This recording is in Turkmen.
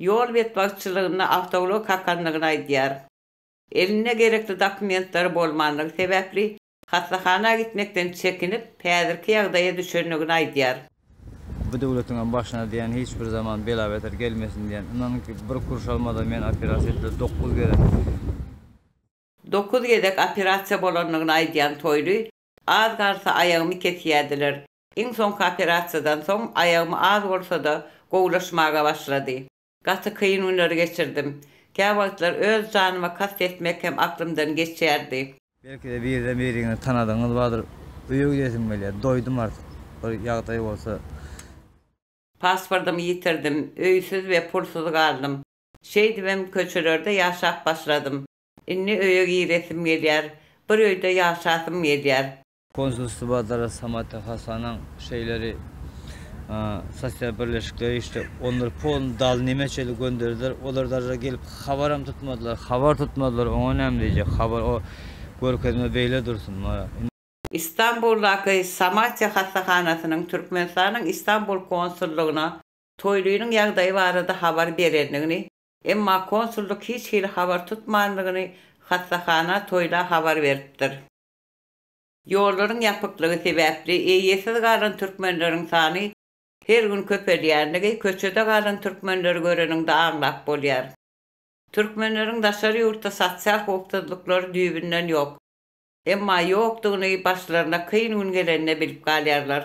Ýol betbagtçylygynda awtoulag kakandygyny aýdýar. Elinde gerekli dokumentlary bolmandygy sebäpli hassahana gitmekden çekinip, häzirki ýagdaýa düşendigini aýdýar. Bu döwletiňem başyna diýen hiç bir zaman bela-beter gelmesin diýen. Ynanyň ki, bir kuruş almadan men operasiýa etdiler dokuz gezek. Dokuz gezek operasiýa bolandygyny aýdýan Toýly, Az galsa aýagymy kesýärdiler. Iň soňky operasiýadan soň aýagym az bolsa-da gowulaşmaga başlady. Gaty kyn günleri geçirdim. Käwagtlar öz janyma kast etmek hem aklymdan geçýärdi. Belki-de birden biriňizi tanadygyňyz bardyr. Öýe gidesim gelýär. Doýdum artyk. Bir ýagdaý bolsa. Pasportymy ýitirdim. Öýsüz we pulsuz galdym. Şeýdibem köçelerde ýaşap başladym. Indi öýe giresim gelýär. Bir öýde ýaşasym gelýär. Konsulstwada Rasamat Hasanyň şeýleri sosial birleşikleri işdi. Onlary polny dal nemeçeli gönderdiler. Olar darja gelip habaram tutmadylar. Habar tutmadylar. Oňa näme diýjek? Habar o görkezme beýle dursun. Mara. Istanbuldaky Samatya hassahanasynyň Türkmenistanyň Istanbul konsullygyna Toýlynyň ýagdaýy barada habar berendigini, emma konsullyk hiç hili habar tutmandygyny hassahana Toýla habar beripdir. Ýollaryň ýapyklygy sebäpli eýesiz galan türkmenleriň sany her gün köpelýändigi köçede galan türkmenleri göreniňde aňlap bolýar. Türkmenleriň daşary ýurtda sosial howpsuzlyklary düýbünden ýok. Emma ýokdugyny başlaryna kyn gün gelende bilip galýarlar.